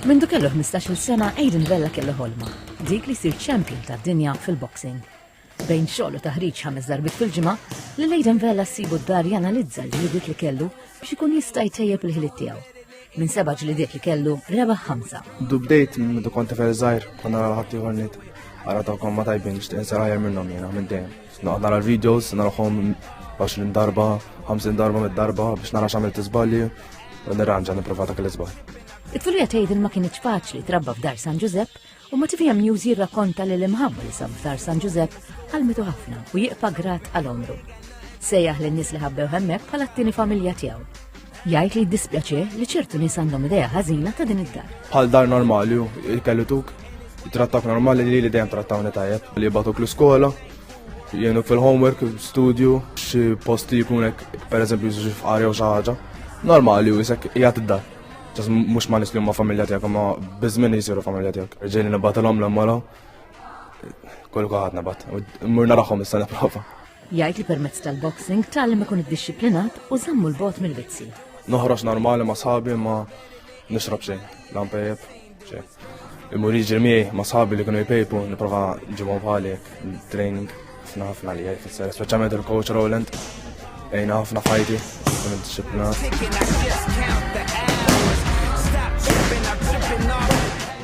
Mindu kellu 15-il sena Aiden Vella kellu ħolma, dik li jsir champion tad-dinja fil-boxing. Bejn xogħol u taħriġ ħames darbit fil-ġimgħa, li Aiden Vella ssibu d-dar janalizza l-ġlidiet li kellu biex ikun jista' jtejjeb il-ħiliet tiegħu. Minn seba' ġlidiet li kellu rebaħ ħamsa. Dubdejt minn konti fer żgħir konna ħadd ieħor nit. Ara tagħkom ma tajbin nixtieq insar ħajr minnhom jiena minn dejjem. Naqgħod nara l-videos, narahom 20 darba, 50 darba mid darba biex nara x'għamil tiżbalji u nirranġa nipprova dak l-iżbal. It-tfulija tgħidil ma kienx faċli trabba f'dar San Ġużepp u Motivija News jirrakkonta li l-imħabba li sab f'dar San Ġużepp għalmitu ħafna u jiqpa grat għal omru. Sejjaħ lin-nies li ħabbew hemmhekk bħala t-tieni familja tiegħu. Jgħid li jiddispjaċih li ċertu nies għandhom idea ħażina ta' din id-dar. Bħal dar normali il-kellu tuk, trattak normali li li dejjem trattawni tajjeb, li jibatuk l-iskola, jenu fil-homework, studio, xi posti jkunek, per eżempju, xi fqari jew xi ħaġa. Normali u jisek jgħat id-dar. Ġas mhux ma nisli ma familja tiegħek, ma biżmin jisiru familja tiegħek. Ġejni nibgħatilhom l-mola, kollu kaħad nabat. Mur naraħhom issa nipprova. Jgħid li permezz tal-boxing tgħallem ikun iddixxiplinat u żammu 'l bogħod mill-vizzji. Noħroġ normali ma' sħabi ma nixrob xejn, la npejjep xejn. Imur jiġri miegħi ma' sħabi li kienu jpejpu nipprova ġibhom bħali training ħafna ħafna li jfisser, speċjalment il-coach Roland għajna ħafna fajti, kun id-disciplina.